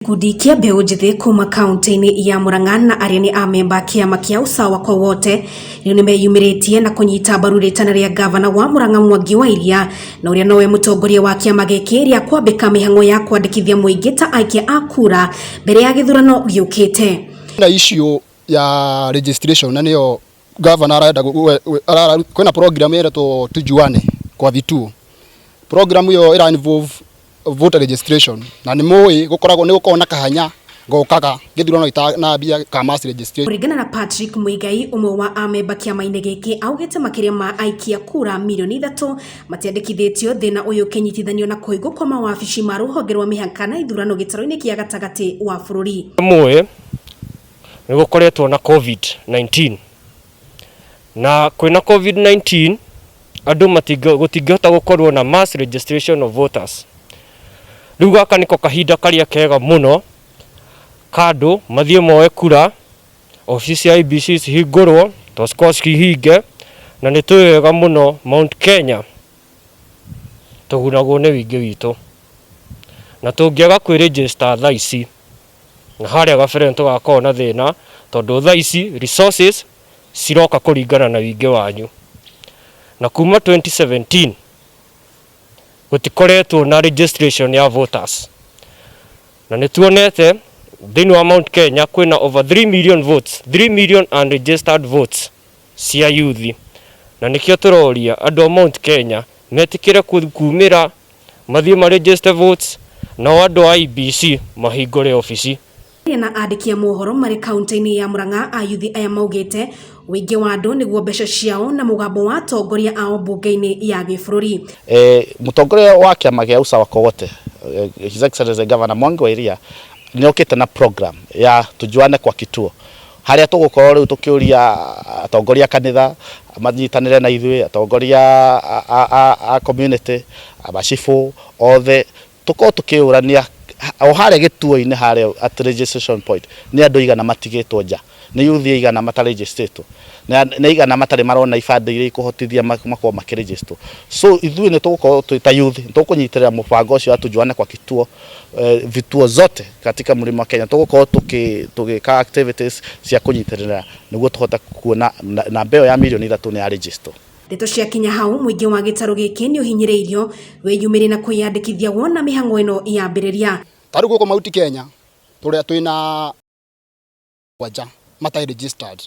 Gĩkundi kĩa mbeũ njĩthĩ kuma kaunti-inĩ ya Murang'a na arĩa nĩ amemba a kĩama kĩa Usawa kwa Wote rĩu nĩ meyumĩrĩtie na kũnyita mbaru rĩtana rĩa gavana wa Murang'a Mwangi wa Iria na ũrĩa nowe mũtongoria wa kĩama gĩkĩ rĩa kwambĩka mĩhang'o ya kwandĩkithia mũingĩ ta aikia a kura mbere ya gĩthurano gĩũkĩte. na issue ya registration na nĩyo gavana arenda gu- we- we- arara- kwĩna program ĩretwo tujuane kwa vituo program ĩyo ĩra involve voter registration na nĩ mũĩ gũkoragwo nĩ gũkoragwo na kahanya ngokaga gĩthurano ita- na mbia ka mass registration kũringana na patrick mũigai ũmwe wa amemba kĩama-inĩ gĩkĩ augĩte makĩria ma aikia kura mirioni ithatũ matiandĩkithĩtio thĩna ũyũ ũkĩnyitithanio na kũhingwo kwa mawabici ma rũhonge rwa mĩhaka na ithurano gĩtarũ-inĩ kĩa gatagatĩ wa bũrũri mũĩ Nĩ gũkoretwo na Covid-19 na kwĩna Covid-19 andũ gũtingĩhota gũkorwo na mass registration of voters. Rĩu gaka nĩko kahinda karĩa kega mũno ka andũ mathiĩ moe kura, obici cia IEBC cihingũrwo tondũ cikoragwo cihinge na nĩ tũĩ wega mũno Mount Kenya tũgunagwo nĩ ũingĩ witũ na tũngĩaga kwĩ register thaa ici. na harĩa gabere nĩtũgakorwo na thĩna tondũ thaa ici resources ciroka kũringana na wingĩ wanyu. Na kuma 2017 gũtikoretwo na registration ya voters. Na nĩtuonete thĩinĩ wa Mount Kenya kwĩna over 3 million votes, 3 million unregistered votes cia yuthi. Na nĩkĩo tũroria andũ a Mount Kenya metĩkĩre kumĩra Mathiĩ ma register votes, nao andũ a IEBC mahingũre obici. Aria na andĩki a mohoro marĩ kauntĩ-inĩ ya Murang'a ayuthi aya maugĩte ũingĩ wa andũ nĩguo mbeca ciao na mũgambo wa atongoria ao mbunge-inĩ ya gĩbũrũri. Mũtongoria wa kĩama gĩa Usawa Kogote, His Excellency Governor Mwangi wa Iria nĩokĩte na program ya Tujuane kwa Kituo harĩa tũgũkorwo rĩu tũkĩũria atongoria a kanitha manyitanĩre na ithuĩ, atongoria a community, macibũ othe, tũkorwo tũkĩyũrania o harĩa gĩtuo-inĩ harĩa at registration point nĩ andũ aigana matigĩtwo nja, nĩ yuthi aigana mata register ĩtwo, nĩ aigana matarĩ marona ibandĩ iria ikũhotithia makorwo makĩ register ĩtwo. So ithuĩ nĩ tũgũkorwo twĩ ta yuthi nĩ tũkũnyitĩrĩra mũbango ũcio wa Tujuane kwa Kituo. eh, vituo zote katika mlima Kenya tugukorwo tuki- tugika activities cia kunyitirira niguo tuhote kuona na- namba iyo ya milioni ithatu ni ya register Ndeto ciakinya hau mũingĩ wa gĩtarũ gĩkĩ nĩ ũhinyĩrĩirio wĩyumĩrie na kwĩyandĩkithia wona mĩhang'o ĩno yambĩrĩria tarä gå kå mauti kenya tå rä a twä na mũgwanja matarĩ registered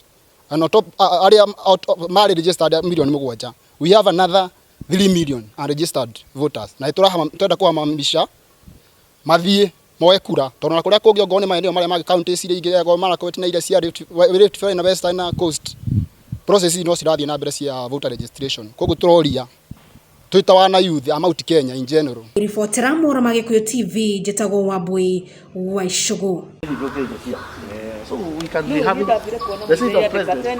and on top a- a- arĩa out of- marĩ registered milioni mũgwanja we have another 3 million unregistered voters na nĩtũrahama- tũrenda kũhamamisha mathiĩ moe kura tondũ na kũrĩa kũngĩ ongorwo nĩ maeneo marĩa mangĩ county iria ingĩ ongorwo Marakwet na iria cia Rift Valley- Rift Valley na Western na Coast process ici no cirathiĩ na mbere cia voter registration koguo tũroria Twĩ ta wana youth a Mount Kenya in general. Ngĩribotera Mohoro ma Gĩkũyũ TV, njĩtagwo Wambũi wa Icũgũ. Yes, so we can be having the seat of president.